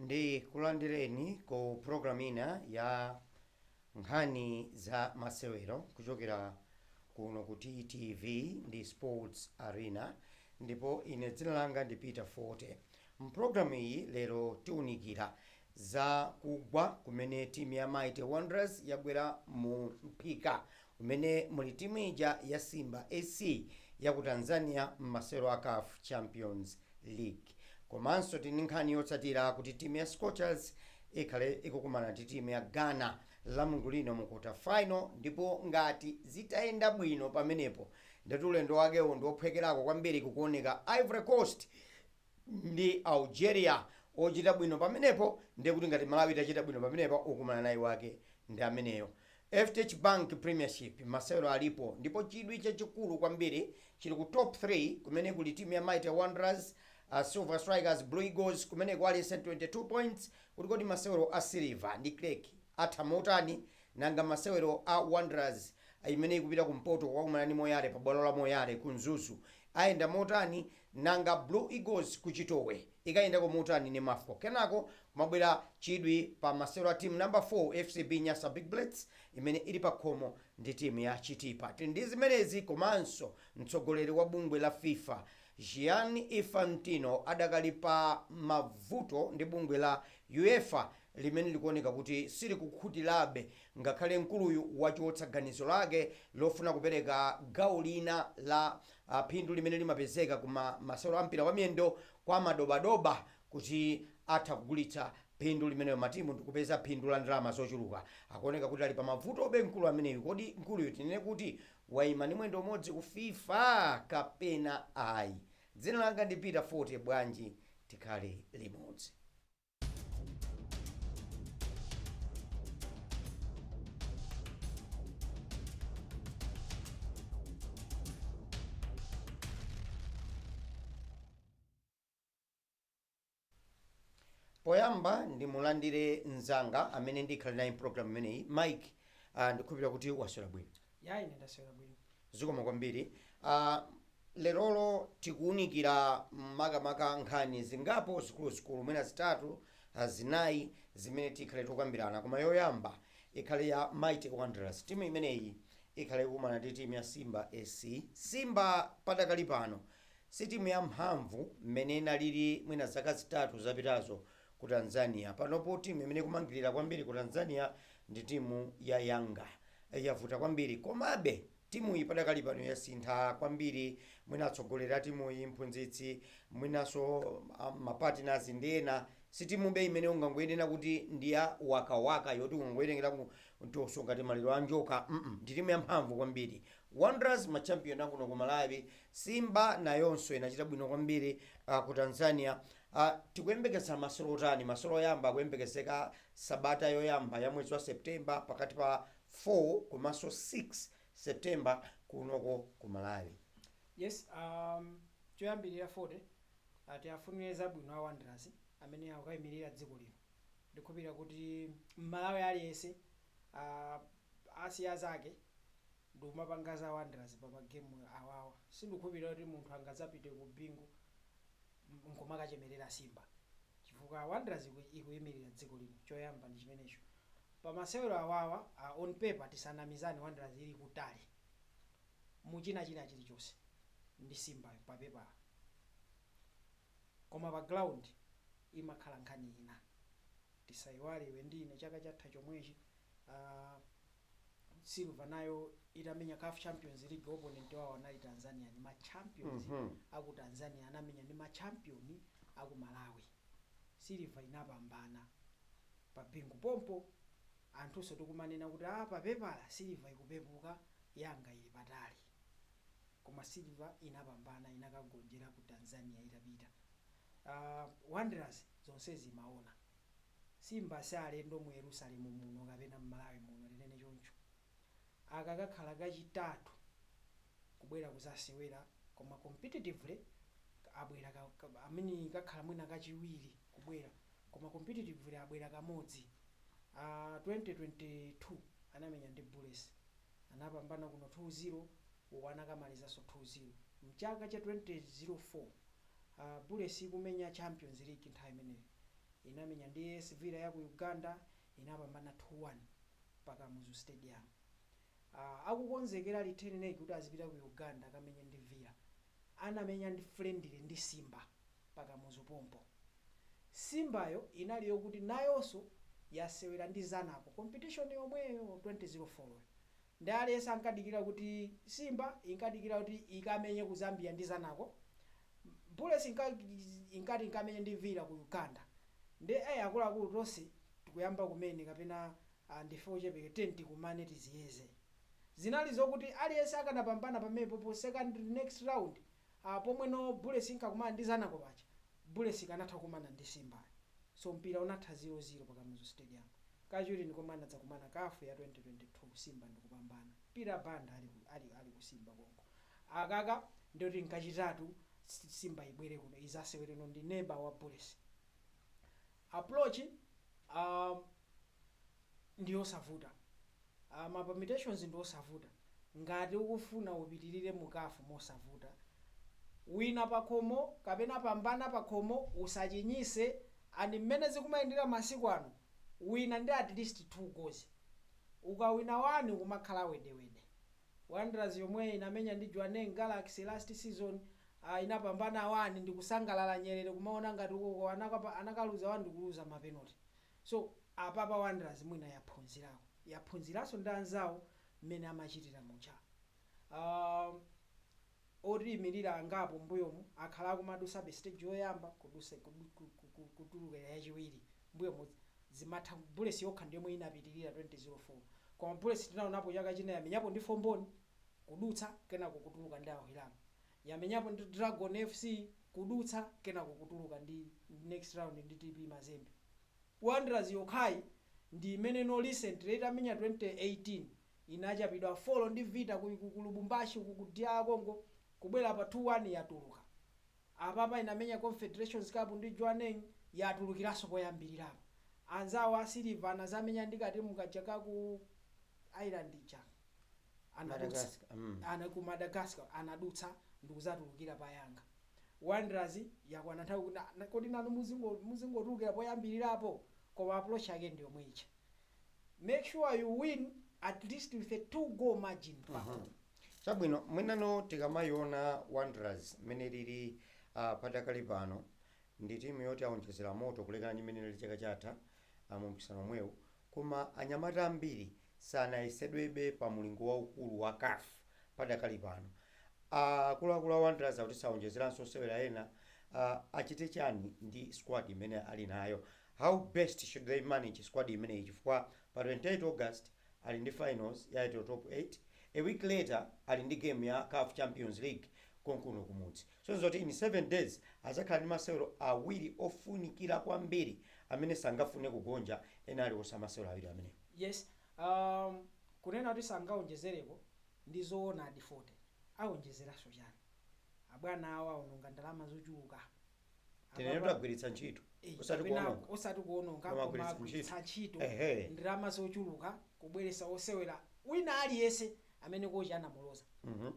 ndi kulandireni ku programu ina ya nkhani za masewero kuchokera kuno ku ttv ndi sports arena ndipo ine dzina langa ndi peter fote M'programu iyi lero tiunikira za kugwa kumene timu ya Mighty Wanderers yagwera mu mphika umene muli timu ija ya Simba SC yaku Tanzania m'masewero a caf Champions League. Komanso tili ndi nkhani yotsatira kuti timu ya Scorchers ikhale ikukumana ndi timu ya Ghana lamulungu lino mu quarter final ndipo ngati zitayenda bwino pamenepo ndiye kuti ulendo wakewo ndi ophwekerako kwambiri kukuoneka Ivory Coast ndi Algeria ochita bwino pamenepo ndiye kuti ngati Malawi itachita bwino pamenepa okumana naye wake ndi ameneyo. FDH Bank Premiership masewero alipo ndipo chidwi chachikulu kwambiri chili ku Top 3 kumene kuli timu ya Mighty Wanderers, Silver Strikers, Blue Eagles kumene kuli 22 points kuti kodi masewero a Silver ndi Creck atha motani? Nanga masewero a Wanderers imene ikupita kumpoto kukakumana ndi Moyale pa bwalo la Moyale ku Mzuzu Ayenda motani? Nanga Blue Eagles ku Chitowe ikayendako motani ndi Mafco? Kenako kumabwera chidwi pa masewero a timu number 4 FCB Nyasa Big Bullets imene ili pakhomo ndi timu ya Chitipa. Tili ndi zimenezi komanso mtsogoleri wa bungwe la fifa, Gianni Infantino adakali pa mavuto ndi bungwe la UEFA limene likuoneka kuti silikukhutirabe. Ngakhale mkuluyu wachotsa ganizo lake lofuna kupereka gawo lina la phindu limene limapezeka ku ma masewero a mpira wa miyendo kwa madobadoba kuti atha kugulitsa phindu limenelo matimu ndikupeza phindu la ndalama zochuluka, akuoneka kuti ali pa mavutobe mkulu ameneyu. Kodi mkuluyu tinene kuti waima ndi mwendo umodzi ku fifa kapena ayi? Dzina langa ndi Peter Fote bwanji tikhale limodzi. poyamba ndimulandire mzanga amene ndikhala naye mpulogalamu imeneyi mike uh, ndikhulupirira kuti waswera bwino Ya ine ndaswera bwino. Zikomo kwambiri. Ah, lerolo tikuunikira makamaka nkhani zingapo zikuluzikulu mwina zitatu, ah, zinayi zimene tikhale tikukambirana. Koma yoyamba ikhale ya Mighty Wanderers. Timu imeneyi ikhale ikukumana ndi timu ya Simba SC. Simba padakali pano si timu ya mphamvu mmene inalili mwina zaka zitatu zapitazo ku Tanzania. Panopo timu imene ikumangilira kwambiri ku Tanzania ndi timu ya Yanga yavuta kwambiri komabe timuyi padakali pano yasintha kwambiri mwina atsogoleri a timuyi, mphunzitsi mwinaso ma partners ndi ena si timube imene ungangoinena kuti ndi yawakawaka yoti ungangoitengera kumtoso ngati maliro a njoka mm ndi timu yamphamvu kwambiri Wanderers ma champion akuno ku Malawi, Simba nayonso inachita bwino kwambiri ku Tanzania, tikuyembekeza masewero otani? Masewero oyamba akuyembekezeka Sabata yoyamba ya mwezi wa September pakati pa 4 komanso 6 September kunoko ku Malawi. Yes um choyambirira Fote uh, tiafunire zabwino a Wanderers amene akukaimirira dziko lino ndikhulupirira kuti Mmalawi aliyense uh, asiya zake ndikumapanga za Wanderers pa magemu awawa sindikhupira kuti munthu angazapite ku Bingu nkumakachemerera Simba chifukwa Wanderers ikuimirira dziko lino choyamba ndi chimenecho pa masewero awawa a on paper tisanamizane Wanderers ili kutali mu china chilichonse ndi Simbayo pa pepala koma pa ground imakhala nkhani ina tisaiwale iwe ndi ine chaka chatha chomwechi aah silver nayo itamenya caf champions league opponent wawo anali Tanzania ni ma champions Mhm. aku Tanzania anamenya ndi ma champion aku Malawi silver inapambana pa Bingu pompo anthunso tikumanena kuti a papepala silver ikupepuka Yanga ili patali koma silver inapambana inakagonjera ku Tanzania itapita uh, Wanderers zonse zimaona Simba si alendo mu Yerusalemu muno kapena m'Malawi muno, tinene choncho. Aka kakhala kachitatu kubwera kuzasewera koma competitively abwera ka, I mean kakhala mwina kachiwiri kubwera koma competitively abwera kamodzi. A 2022 anamenya ndi Bullets anapambana kuno 2, 0. uku anakamalizanso 2-0. Mchaka cha 2004 Bullets ikumenya Champions league nthawi imeneyo inamenya ndi AS Villa yaku Uganda inapambana 2 1 pa Kamuzu stadium. Akukonzekera return leg kuti azipita ku Uganda akamenye ndi Villa anamenya ndi friendly ndi Simba pa Kamuzu pompo. Simbayo inali yokuti nayonso yasewera ndi Zanaco competition yomweyo 2004 yo. Ndi aliyense ankadikira kuti Simba inkadikira kuti ikamenye ku Zambia ndi Zanaco. Bullets inka inkati ikamenye ndi Villa ku Uganda. Nde eh akuluakulu tonse tikuyamba kumene kapena ah, ndife ochepeke tiyeni tikumane tiziyeze. Zinali zokuti aliyense akanapambana pamepopo second next round a pomwe no bullets inkakumana ndi zanaco paja bullets ikanatha kukumana ndi simba so mpira unatha 0 0 pa kamuzu stadium kachiwiri ndi komwe anadzakumana caf ya 2022 simba ndikupambana peter banda ali ku ali ali ku simba konko akaka ndiye kuti nkachitatu simba ibwere kuno izasewere no ndi neba wa bullets Approach um ndiyosavuta um ma permutations ndiwosavuta ngati ukufuna upitilire mu caf mosavuta wina pakhomo kapena pambana pakhomo usachinyise and mmene zikumayendera masiku ano wina ndi atleast two goals ukawina one kumakhala wedewede Wanderers yomwe inamenya ndi Jwaneng Galaxy last season ah inapambana 1 ndikusangalala nyerere kumaona ngati ukoko anakapa anakaluza 1 ndikuluza ma penalty so apapa Wanderers mwina yaphunzirako yaphunziranso ndi anzawo mmene amachitira muja ah Otiimilira angapo mbuyomu akhala akumadusabe stage yoyamba kudusa kutuluka yachiwiri mbuyomu zimatha bullets yokha ndiyomwe inapitilira 2004 koma bullets tinaonapo chaka china yamenyapo ndi fomboni kudutsa kenako kutuluka ndi Al Hilal yamenyapo ndi dragon fc kudutsa kenako kutuluka ndi next round ndi TP mazembe wanderers yokhayi ndiimene no recently itamenya 2018 inachapidwa 4 ndi vita ku ku kulubumbashi uku ku DR congo kubwera pa 2 1 yatuluka apapa inamenya confederations cup ndi Jwaneng yatulukilaso poyambililapo anzawo a Silver anazamenya ndi katimu kaja ka ku island ija anadutsa Madagascar. Mm. ana ku madagascar anadutsa ndikuzatulukira pa yanga Wanderers yakwana nthawi kuti na- na- kodi nanu muzingo- muzingotulukira poyambililapo koma approach yake ndiyomwe ija make sure you win at least with a two goal margin pa home chabwino mwinano tikamayiona wanderers mmene lili uh, padakali pano ndi timu yoti aonjezera moto kulekana ndi mmene lili chaka chatha uh, mu mpikisano omwewu koma anyamata ambiri sanayesedwebe pa mulingo waukulu wa caf padakali pano akuluakulu a wanderers akuti saonjezeranso osewera ena uh, achite chani ndi squad imene ali nayo How best should they manage squad imeneyi chifukwa pa 28 August ali ndi finals ya Airtel Top 8, a week later ali ndi game ya caf Champions League konkuno kumudzi. Sonse zoti in 7 days azakhala ndi masewero awiri ofunikira kwambiri amene sangafune kugonja ena aliwonse a masewero awiri amenewo. Yes um kunena kuti sangaonjezereko ndi zoonadi 40 aonjezeraso chani? Abwana awo aononga ndalama zochuluka tinene Apa- tagwiritsa ntchito Eh, osati kapena kuononga osati kuononga Koma koma agwiritsa agwiritsa ntchito. ntchito Ehe. ndalama zochuluka kubweresa osewera wina aliyense amene kochi anamuloza Mhm.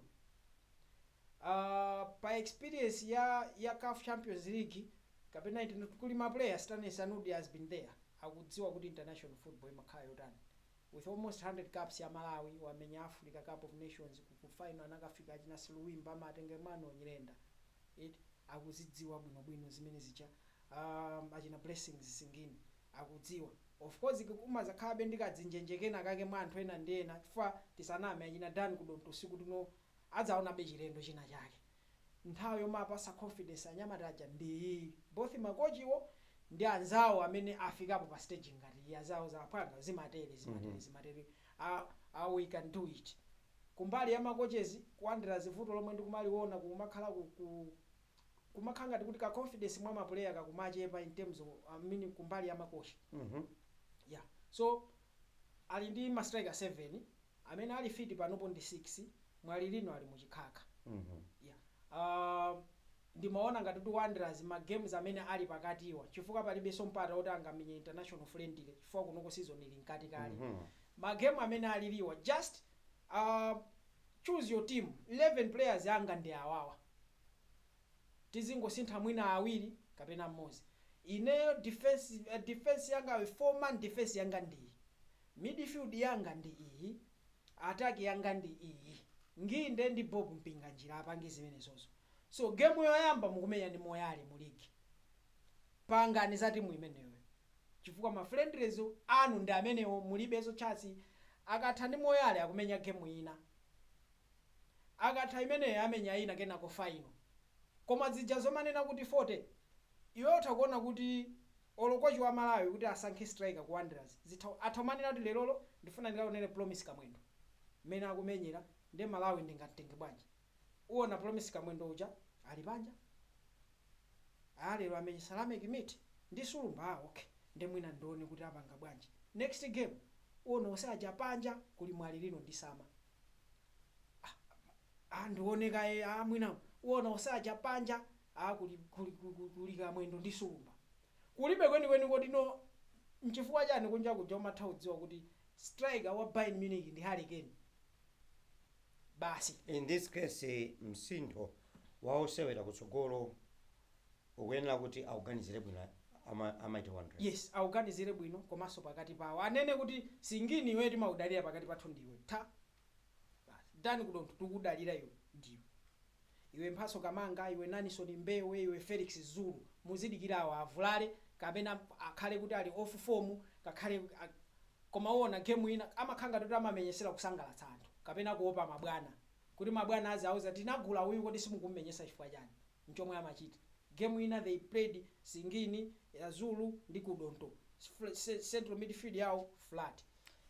Ah, pa experience ya ya CAF Champions League kapena iti- kuli ma players Stanley Sanudi has been there akudziwa kuti international football imakhala yotani with almost 100 caps ya Malawi wamenya Africa Cup of Nations ku- ku final anakafika achina Silwimba a Matenga Emmanuel Nyirenda eti akuzidziwa bwino bwino zimene zija aah achina Blessings Singini akudziwa of course kumazakhalabe ndi kadzinjenje kena kake mwa anthu ena ndi ena chifukwa tisaname achina Dan Kudonto tsiku lino adzaonabe chilendo china chake nthawi yowapatsa confidence anyamata aja ndi iyi both ma coach wo ndi anzawo amene afikapo pa stage ngati iyi azawauza aphwanga zimatere zimatere zimatere aah aah we can do it Kumbali ya ma coaches ku Wanderers vuto lomwe ndikumaliona kukumakhala ku ku kumakhala ngati kuti ka confidence mwa ma player kakumachepa in terms of I mean kumbali ya makochi yeah so ali ndi ma striker 7 amene ali fit panopo ndi 6 Mwalilino ali mu chikhakha yeah aah Ndimaona ngati kuti Wanderers ma games amene Ali pakatiwa chifukwa palibenso mpata oti angamenye international friendly chifukwa kunoko season ili mkati kale ma game amene aliliwa just aah choose your team 11 players anga ndi awawa tizingosintha mwina awiri kapena mmodzi ineyo defence defence yanga 4 man defence yanga ndi iyi midfield yanga ndi iyi attack yanga ndi iyi Nginde ndi Bob Mpinganjira apange zimenezozo so game yoyamba mukumenya ndi moyale mu league pangani za timu imeneyoyo chifukwa ma friendlies anu ndi amenewo mulibeso chance akatha ndi moyale akumenya game ina akatha imeneyo amenya ina kenako final koma zija zomanena kuti 40 iwe utha kuona kuti olo coach wa malawi kuti asankhe striker ku Wanderers zitha atha kumanena kuti lerolo ndifuna ndikaonere promise kamwendo mmene akumenyera nde Malawi ndingamtenge bwanji uona promise kamwendo uja ali panja aa lero amenye Sama Thierry ndi sulumba aa ok nde mwina ndione kuti apanga bwanji next game uona onse aja panja kuli mwalilino ndi sama a ndioneka a mwina uona usaja panja a kuli kuli kuli kuli kamwendo ndi sulumba kulibe kwenikweni kodi no nchifukwa chani kunja kuja umatha kudziwa kuti striker wa Bayern Munich ndi Harry Kane basi In this case, msinthu wa osewera kutsogolo ukuyenera kuti auganizire bwino a Mighty Wanderers. Yes awuganizire bwino komanso pakati pawo anene kuti singini iwe timakudalira pakati pathu ndiwe tha basi Dan kudonto tikukudalira iwe ndiwe iwe mphatso kamanga iwe nanison mbewe iwe felix zulu muzidikira awo avulale kapena akhale kuti ali off form ngakhale a koma uwona game ina amakhala ngati kuti amamenyesera kusangalatsa anthu kapena kuopa mabwana kuti mabwana aziauza tinagula uyu kodi simukumumenyesa chifukwa chani nchomwe amachita. Game ina they played Singini, ya Zulu ndi Kudonto central midfield yawo flat.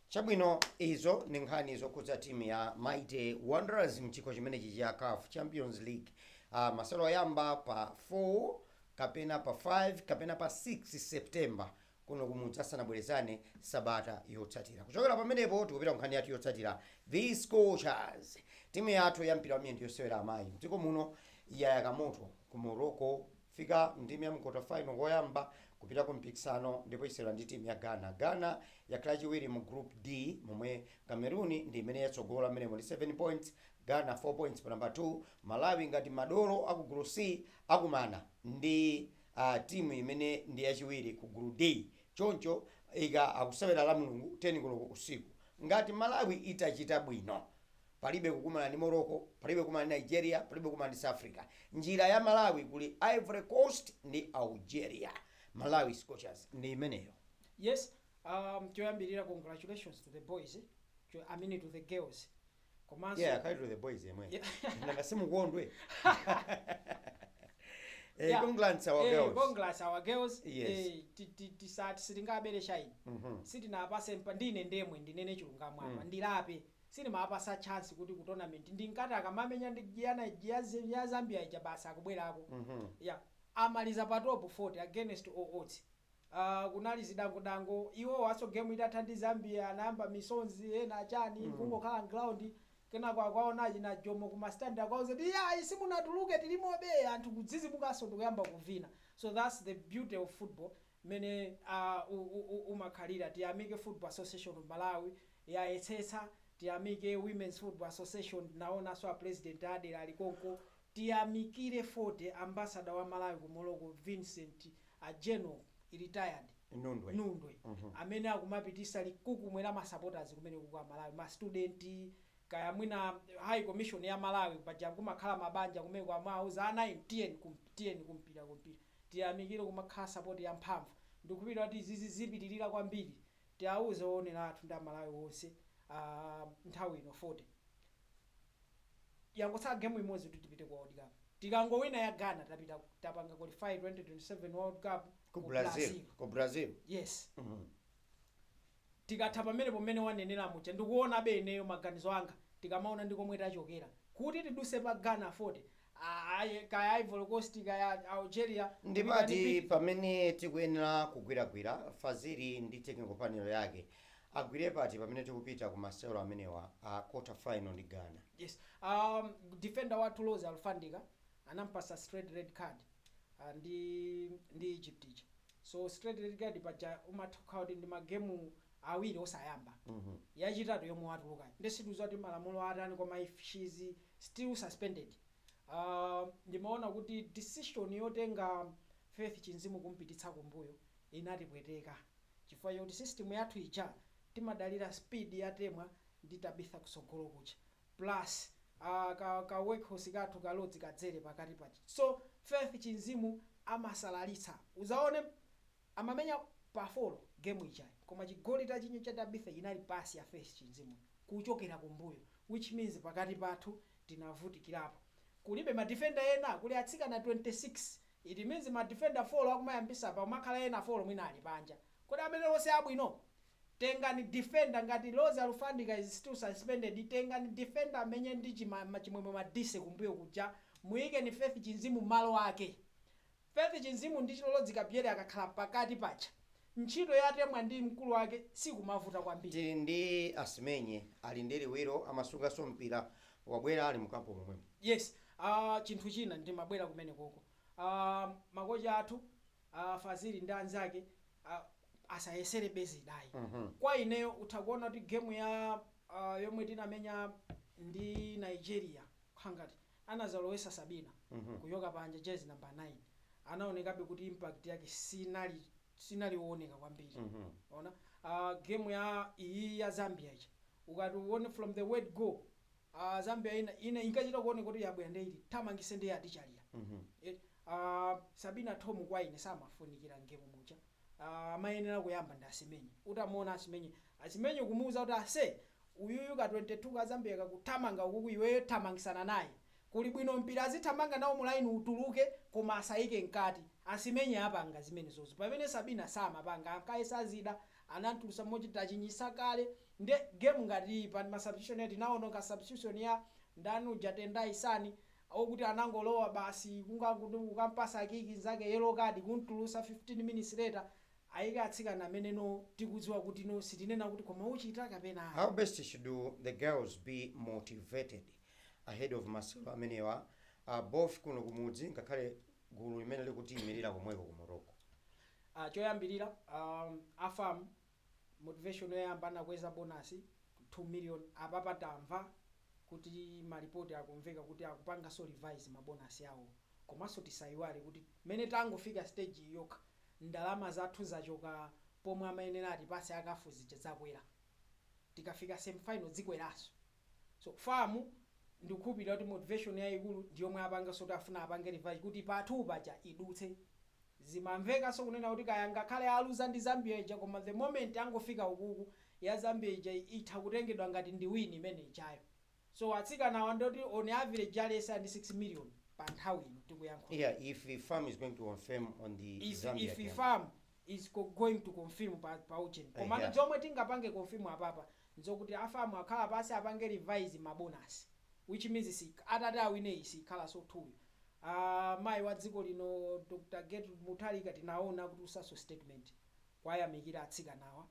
Chabwino izo ndi nkhani zokhudza team ya Mighty Wanderers mchikho chimenechi cha caf Champions League. Uh, masewero oyamba pa 4 kapena pa 5 kapena pa 6 September kuno kumudzi asanabwerezane sabata yotsatira kuchokera pamenepo tikupita ku nkhani yathu yotsatira the scorchers timu yathu ya mpira wamiyendo yosewera amayi mdziko muno yayaka moto ku morocco fika ndime ya quarter final koyamba kupita ku mpikisano ndipo isewera ndi timu ya ghana ghana yakhala chiwiri mu group d momwe cameroon ndi imene yatsogola mmenemo ndi 7 points ghana 4 points pa namba 2 malawi ngati madolo aku group c akumana ndi a timu imene ndi yachiwiri ku group D choncho ika akusewera lamulungu 10 koloko usiku. Ngati Malawi itachita bwino, palibe kukumana ndi Morocco, palibe kukumana ndi Nigeria, palibe kukumana ndi South Africa. Njira ya Malawi kuli Ivory Coast ndi Algeria. Malawi Scorchers ndi imeneyo. Yes um choyambilira congratulations to the boys cho I mean to the girls komanso yeah akhale to the boys yemwe Yeah. nanga simukondwe eh Yeah. congrats our Eh, girls congrats our girls Yes. Eh, ti- ti- tisati sitingabere shine Mhm. sitinapase mpa ndine ndemwe ndinene chilungamo apa Mm. ndilape sinimapasa chance kuti ku tournament ndinkati akamamenya ndi ya zambia ija basi akubwerako Mhm. ya amaliza pa top 40 against all odds Aaa kunali zidango dango iwowaso game itatha ndi Zambia anayamba misonzi ena chani kungokhala mground kenako akuwaona achina Jomo kuma stand akuwauza kuti iyayi simunatuluke tilimobe anthu kudzizimukaso ndikuyamba kuvina so that's the beauty of football mmene aah umakhalira tiyamike football association of Malawi yayesetsa tiyamike women's football association ndinawonaso a president adela ali konko Tiyamikire 40 ambassador wa Malawi ku Morocco Vincent a General retired Nundwe amene akumapitisa likukumwe la ma supporters kumeneko kwa Malawi ma student kaya mwina high commission ya Malawi paja kumakhala mabanja kumeko amawauza ana inu tiyeni ku mpira ku mpira tiyamikire kumakhala support ya mphamvu ndikukhulupirira kuti izi zizipitirira kwambiri tiauze owonera athu ndi a Malawi onse nthawi ino 40. Yangotsala game imodzi kuti tipite ku world cup. Tikangowina ya Ghana tapita tapanga qualify 2027 world cup Ku ku Brazil. Brazil. Ku Brazil. Yes. Mhm. Tikatha pamenepo mmene wanenera muja ndikuonabe ineyo maganizo anga tikamaona ndi komwe tachokera. Kuti tiduse pa Ghana 40 Ayi, kaya Ivory Coast, kaya Algeria, ndi pati pamene tikuyenera kugwiragwira, Fazili ndi technical panel yake agwire pati pamene tikupita ku masewero amenewa a quarter final ndi Ghana? Yes, aah defender wathu Rose Alufandika anampasa straight red card aah ndi ndi Egypt ija so straight red card paja umatha kukhala kuti ndi ma game awiri osayamba yachitatu yomwe watulukayi nde sitikuziwa kuti malamulo atani koma if she is still suspended aah ndimaona kuti decision yotenga Faith Chinzimu kumpititsa kumbuyo inatipweteka chifukwa choti system yathu ija timadalira speed ya Temwa ndi Tabitha kusogolo kuja plus aah ka ka workhorse kathu ka Rose Kadzere pakati paja so Faith Chinzimu amasalalitsa uzaone Amamenya pa folo game ijayi koma chigoli tachinya cha Tabitha chinali pass ya Faith Chinzimu kuchokera kumbuyo which means pakati pathu tinavutikirapo kulibe ma defender ena kuli atsikana 26 it means ma defender folo akumayambisa pakumakhala ena folo mwina ali panja kodi amenewo si abwino? Tengani defender ngati Rose Alufandika is still suspended tengani defender amenye ndi Chima, Chimwemwe Madise kumbuyo kuja muyikeni Faith Chinzimu malo ake Faith Chinzimu ndi chi Rose Kadzere akakhala pakati paja ntchito ya Temwa ndi mkulu wake sikumavuta kwambiri. Tili ndi Asimenye ali ndi liwiro amasungaso mpira wabwera ali mu camp momwemo. Yes aah chinthu china ndimabwera kumenekoko aah makochi athu aah Fazili ndi anzake aah asayeselebe zida ayi kwa ineyo utha kuona kuti game ya aah yomwe tinamenya ndi Nigeria kukhala ngati anazalowesa Sabina kuchoka panja jersey number 9 anaonekabe kuti impact yake sinali owoneka kwambiri mwaona uh, game ya iyi ya Zambia ija ukati uone from the word go uh, Zambia ina, ina inkachita kuoneka kuti yabwera nde itithamangise nde yatichalira Eh, uh, Sabina Thom kwa ine samafunikira mgemu muja uh, amayenera kuyamba ndi Asimenye utamuona Asimenye Asimenye kumuuza kuti ase uyuyu ka 22 ka zambia akuthamanga ukuku iweyo thamangisana naye. kuli bwino mpira azithamanga nawo mu line utuluke koma asaike mkati. Asimenye apanga zimenezozo pamene Sabina samapanga ankayesa zida anamtulusa moti tachinyisa kale nde game ngati iyi pa ma substitution ena tinaonako substitution ya ndani uja Tendai Sani okuti anangolowa basi kungangokuti kukampasa kiki nzake yellow card kumtulusa 15 minutes later aike atsikana amene no tikudziwa kuti no sitinena kuti koma uchita kapena ayi. How best should the girls be motivated ahead of masewero amenewa both kuno kumudzi ngakhale gulu limene likutiimilira komweko ku Morocco? Choyambirira a fam motivation yoyamba anakweza bonus 2 million apapa tamva kuti ma report akumveka kuti akupanganso revise ma bonus awo komanso tisaiwale kuti mmene tangofika stage yi yokha ndalama zathu zachoka pomwe amayenera atipase a caf zija zakwera tikafika semi final zikweraso so fam ndikukhulupilira kuti motivation yayikulu ndiyomwe apangaso ti afuna apange revise kuti pa 2 paja idutse zimamvekaso kunena kuti kaya angakhale aluza ndi zambia ija koma the moment angofika ukuku ya zambia ija itha kutengedwa ngati ndi win imene ijayo. So atsikanawa ndoti on average aliyense ali ndi 6 million pa nthawi ino tikuyankhulayi. Yeah if fam is going to confirm on the If Zambia if game. fam is co going to confirm pa pa ujeni komano Eya. zomwe tingapange confirm apapa nzokuti a fam akhala pansi apange revise ma bonus which means siikh atati awine iyi siikhalanso 2 yo aah mayi wa dziko lino Dr Gertrude Mutharika tinaona akutulusanso statement kuwayamikira atsikanawa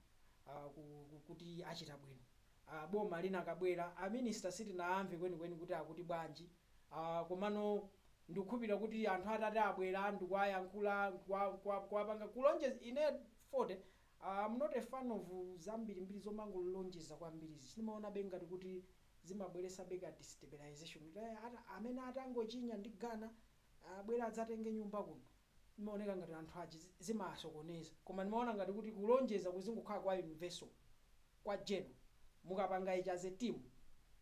aah ku ku kuti achita bwino aah boma linakabwera a minister sitinaamve kwenikweni kuti akuti bwanji aah komano ndikukhulupilira kuti anthu atati abwera ndikuayankhula ndikua kua kuapanga kulonjez ine fote am not a fan of zambirimbiri zomangolonjeza kwambirizi ndimaonabe ngati kuti zimabweresabe ka destabilization kuti eeh ata amene atangochinya ndi ghana abwere adzatenge nyumba kuno Imaoneka ngati anthu achi zimawasokoneza koma ndimaona ngati kuti kulonjeza kuzingokhala kwa universal kwa general mukapanga ichi as a team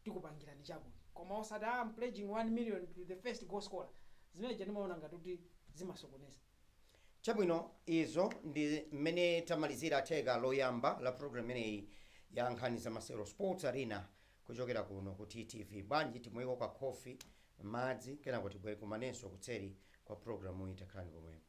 tikupangirani chakuti koma osati aah am pledging 1 million to the first goal scorer zimene zija ndimaona ngati kuti zimasokoneza. Chabwino izo ndi mmene tamalizira theka loyamba la program imeneyi ya nkhani za masewero, Sports Arena, Kuchokera kuno ku TTV, bwanji timweko ka khofi, madzi, kenako tibwere tikumanenso kutseri kwa program yi. Takhalani pomwepo.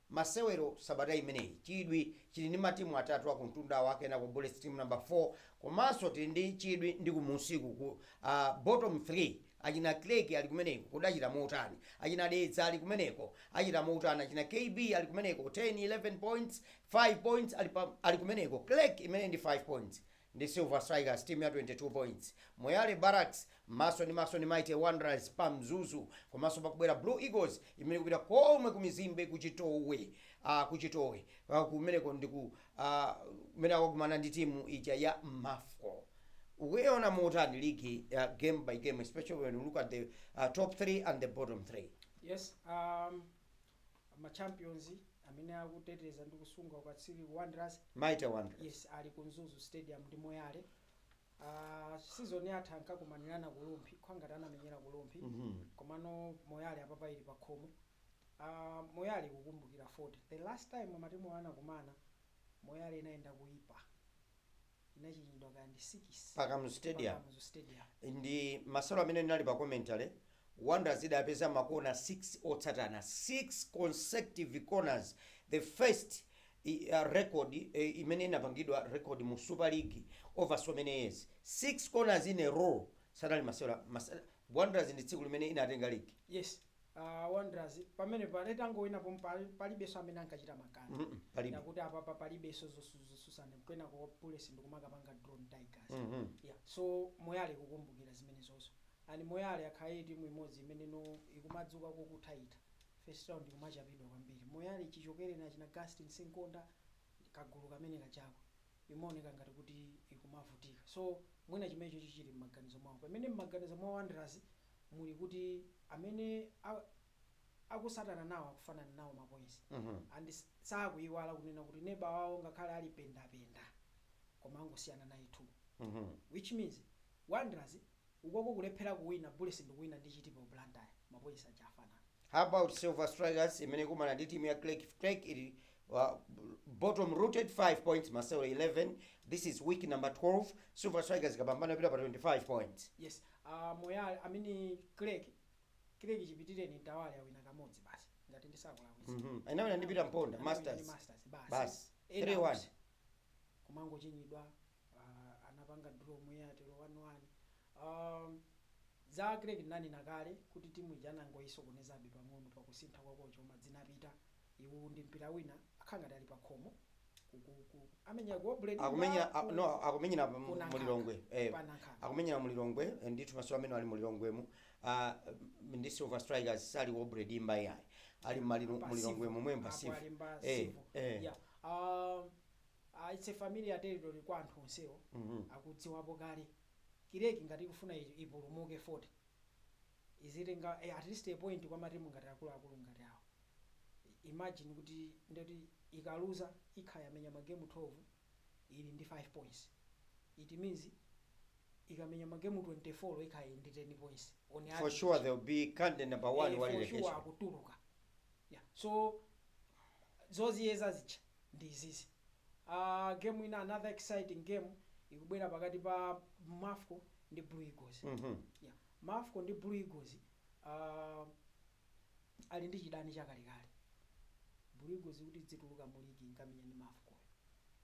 Masewero sabata imeneyi chidwi chili ndi matimu atatu akumtundawa kenako Bullets team number 4 komanso tili ndi chidwi ndi kumunsiku ku a bottom 3 achina Creck ali kumeneko kodi achita motani? Achina Dedza ali kumeneko achita motani? Achina KB ali kumeneko 10 11 points 5 points ali pa ali kumeneko Creck imeneyi ndi 5 points. ndi Silver Strikers team ya 22 points, Moyale Barracks maso ndi maso ndi Mighty Wanderers pa Mzuzu komanso pakubwera Blue Eagles imene ikupita komwe ku mizimbe ku Chitowe ah ku Chitowe ah, kumeneko ndi ku ah, kumene akakumana ndi timu ija ya Mafco ukuiona motani ligi ya game by game especially when you look at the uh, top 3 and the bottom 3 Yes, um, ma champions amene akuteteza ndi kusunga ukatswiri ku wanderers Mighty Wanderers. yes ali ku mzuzu stadium ndi moyale uh, season yatha ankakumanirana ku Rumphi khwangati anamenyera ku Rumphi Mhm. komano moyale apapa ili pa khomo uh, moyale kukumbukira 40 the last time matimu anakumana moyale inayenda kuipa inachinyidwa kaya ndi 6 Pa Kamuzu Stadium. pa Kamuzu Stadium. ndi masewero amene ndinali pa commentary wanderers idapeza makona 6 otsatana 6 consecutive corners the first i- uh, record eh, imene inapangidwa record mu super league over so many years 6 corners in a row sanali masewera mase- wanderers ndi tsiku limene inatenga league yes A Wanderers pamenepa itangowina pomwe pa- palibenso amene ankachita makani. Mm, mm, palibe. Yakuti apapa palibenso zotsutsana kwinako Bullets ndikumakapanga draw ndi Tigers. Mhm. Yeah. So Moyale kukumbukira zimenezonso. And Moyale yakhala timu imodzi imenenso ikumadzuka kokuthaitha. First round ikumachapidwa kwambiri. Moyale chichokereni achina Gastin Simkonda kagulu kamene kachako. Imaoneka ngati kuti ikumavutika. So mwina chimenecho chichiri m'maganizo mwawo. Pamene m'maganizo mwa Wanderers muli kuti amene a akutsatana nawo akufanana nawo ma points and sakuiwala kunena kuti neba wawo ngakhale ali pendapenda koma angosiyana naye 2 which means wanderers ukoko kulephera kuwina bullets ndikuwina ndi chitipa ku blantyre ma points aja afanana. How about Silver Strikers imene ikumana ndi timu ya Creck if Creck ili uh, bottom rooted 5 points masewero 11 this is week number 12 Silver Strikers ikapambana ipita pa 25 points yes uh, moyale I mean Creck Creck chipitireni Mtawali awina kamodzi basi ngati ndisakulakwisa Mhm. Anawina ndi Peter Mponda, Anawina ndi Masters. masters basi Basi. Ena 3-1. onse. kumangochinyidwa Aaa anapanga draw Moyale one one um za Creck ndinanena kale kuti team ija anangoyisokonezabe pang'ono pa kusintha kwa kocha koma dzinapita iwu ndi mpira wina akakhala ngati ali pa khomo ku ku ku amenyera ku Aubrey Dimba akumenya a- ku no akumenyera pa- ku mu Nankhaka Lilongwe eh pa Nankhaka akumenyera mu Lilongwe eh, ndithu maso amene ali mu Lilongwemu ah, m- ndi Silver Strikers sali Aubrey Dimba yayi ali mma ali mu Lilongwe momwe pa Silver eh eh yeah um Ah it's a familiar territory kwa anthu onsewo akudziwapo kale kireki ngati ikufuna ipulumuke 40 izitenga at least a point kwa matimu ngati akuluakulu ngati awo imagine kuti ndekuti ikaluza ikhala yamenya ma game 12 ili ndi 5 points it means ikamenya ma game 24 ikhala ili ndi 10 points on For sure average they will be candidate number one eh wa for sure relegation. akutuluka Yeah so zoziyeza zija ndi izizi aah game ina another exciting game ikubwera pakati pa mafco ndi blue eagles yeah mafco ndi blue eagles aah ali ndi chidani chakalekale blue eagles kuti idzituluka mu league inkamenya ndi mafco yo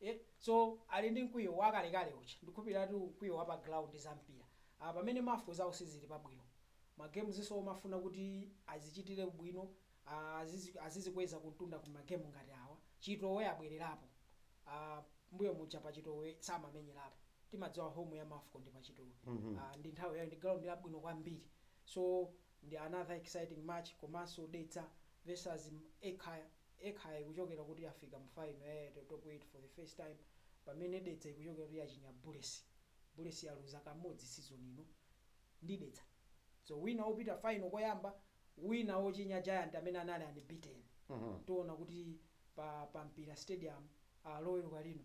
e so ali ndi mkwiyo wakalekale uja ndikukhulupiliratu mkwiyo wapa ground zampira apa pamene mafco zawo sizili pabwino ma games zofuna kuti azichitile bwino azizi azizikweza kumtunda ku ma game ngati awa chitowe abwelerapo aah mbuyo muja pa chitowe samamenyerapo timadziwa home ya mafco ndi pa chitowe aah ndi nthawi yawo ndi ground yabwino kwambiri so ndi another exciting match komanso dedza vs ekhaya ekhaya ikuchokera kuti yafika mu final ya Airtel Top 8 for the first time pamene Dedza ikuchokera kuti yachinya Bullets. Bullets yaluza kamodzi season ino ndi Dedza. So wina wopita final koyamba, wina wochinya Giant amene anali unbeaten. Tiona kuti pa pa Mpira Stadium ah, Loweruka lino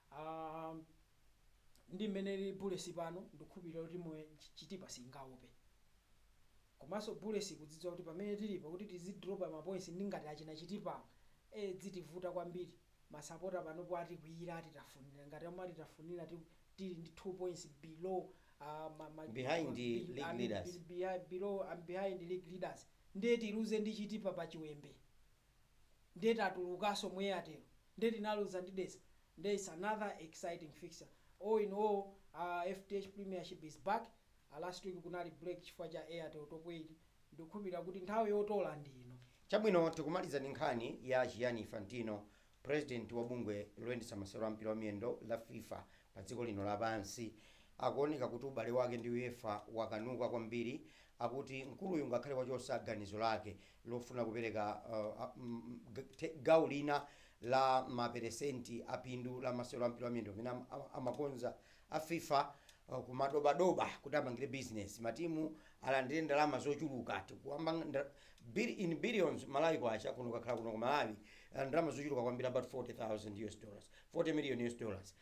Aaa ndi mmene ilili bullets pano ndikukhulupilira kuti timu ya chitipa siyingaope komanso bullets ikudzidziwa kuti pamene tilipa kuti tizi dropa ma points ndi ngati achina chitipawa ee dzitivuta kwambiri masapota panopo atikwiyira atitafunira ngati momwe atitafunira ti tili ndi 2 points below aah ma ma Behind ma bi league I mean leaders. bi behind below um behind league leaders ndiye tiluze ndi chitipa pa chiwembe. nde tatulukaso mu Airtel nde tinaluza ndi Dedza nde its another exciting fixture all in all fdh premiership is back last week kunali break chifukwa cha Airtel top 8 ndikukhulupilira kuti nthawi yotola ndi ino. Chabwino tikumaliza ndi nkhani ya Gianni Infantino, president wa bungwe loyendetsa masewero a mpira wa miyendo la fifa padziko lino lapansi. Akuoneka kuti ubale wake ndi UEFA wakanuka kwambiri, akuti mkuluyu ngakhale wachotsa ganizo lake lofuna kupereka gawo lina la ma peresenti a phindu la masewero a mpira wa miyendo amene amakonza a fifa ku madobadoba kuti apangire bizinesi matimu alandire ndalama zochuluka, tikukamba in billions Malawi Kwacha, kuno kukakhala kuno ku Malawi ndalama zochuluka kwambiri about 40 million US dollars. Forty million US dollars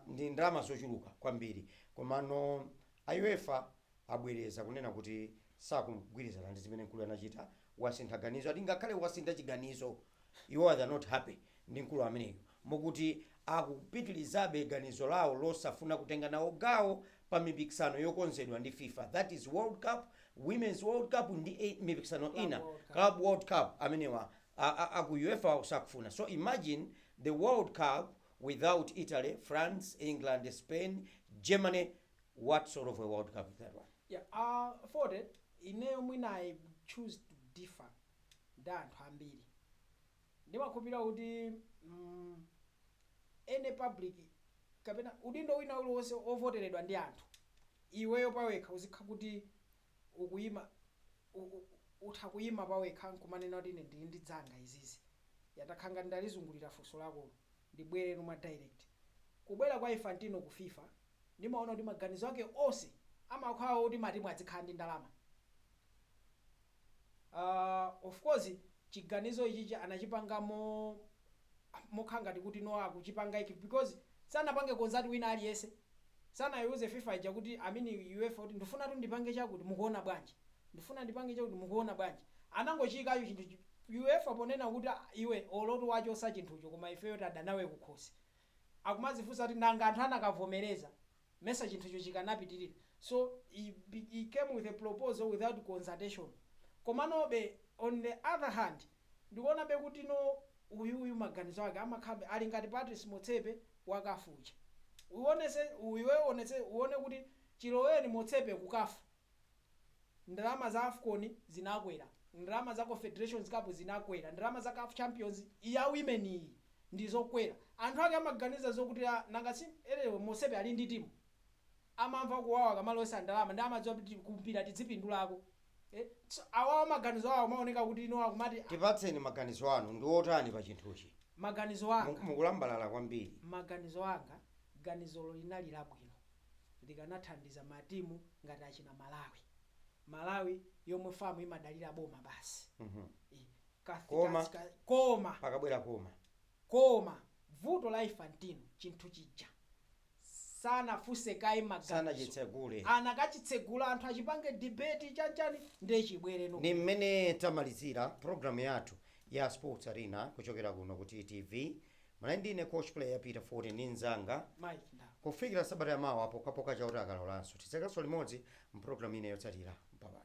ndi ndalama zochuluka kwambiri komano a uefa abwereza kunena kuti sakugwirizana ndi zimene mkuluyu anachita, wasintha ganizo ati ngakhale wasintha chiganizo iwowa they are not happy ndi mkulu ameneyo mokuti akupitilizabe ganizo lawo losafuna kutenga nawo gawo pa mipikisano yokonzedwa ndi fifa that is world cup, women's world cup ndi mipikisano ina club world cup amenewa a a aku uefa wao sakufuna so imagine the world cup without Italy, France, England, Spain, Germany what sort of a world cup is that one? Yeah a Forty ineyo mwina I choose to differ ndi anthu ambiri ndimakhulupirira kuti mm, any public kapena udindo wina uliwonse ovoteredwa ndi anthu iweyo pawekha uzikha kuti ukuyima, u, u, u, utha kuyima pawekha nkumanena kuti ine ndili ndi dzanga izizi. Ya, ndakhala ngati ndalizungulira funso lakolo. Ndibweretu mwa direct. Kubwera kwa Infantino ku fifa, ndimaona kuti maganizo ake onse amakhala oti matimu adzikhala ndi ndalama. Uh, of course, chiganizo ichichi anachipanga mo, mokhala ngati kuti no akuchipanga ichi because sanapange consult wina aliyense. sanayiuze fifa ija kuti i mean UEFA kuti ndufunatu ndipange chakuti mukuona bwanji ndufuna ndipange chakuti mukuona bwanji anangochiyikacho chinthu chi UEFA ponena kuti ah iwe olotu wachosa chinthucho koma ifeyo tidadana nawe kukhosi akumazifunsa kuti nanga anthu anakavomereza mesa chinthucho chikanapitilira so he he came with a proposal without consultation komanobe on the other hand Ndikuonabe kuti no uyu uyu maganizo ake amakhabe ali ngati Patrice Motsepe wa caf uja. Uonetse iwe uonetse uone kuti chiloweni Motsepe ku caf ndalama za afcon zinakwera, ndalama za Confederations Cup zinakwera, ndalama za caf Champions ya women iyi ndizokwera. Anthu ake amaganiza zokuti a nanga si anyway Motsepe ali ndi timu amamva kuwawa akamalowetsa ndalama ndi amadziwa kuti ku mpira tidzipindulako. Eh, so awawa maganizo awo amaoneka kuti ino akumati "Ah, tipatseni maganizo anu ndi otani pa chinthuchi maganizo Mu- anga mukulambalala kwambiri maganizo anga ganizolo linali labwino likanathandiza matimu ngati achina malawi malawi yomwe FAM imadalira boma basi Mhm. Eh, ka- Koma. ka- ka- koma pakabwera koma koma vuto la infantino chinthu chija sanafunse kaye maganizo sanachitsegule anakachitsegula anthu achipange debate chanchani ndiye chibwere no ni mmene tamalizira programu yathu ya sports arena kuchokera kuno ku ttv mwana ndine coach player peter ford ndi mzanga Mike Ndau. kufikira sabata yamawa pokapoka chauta akalolanso tidzakanso limodzi mpulogalamu ine yotsatira babayi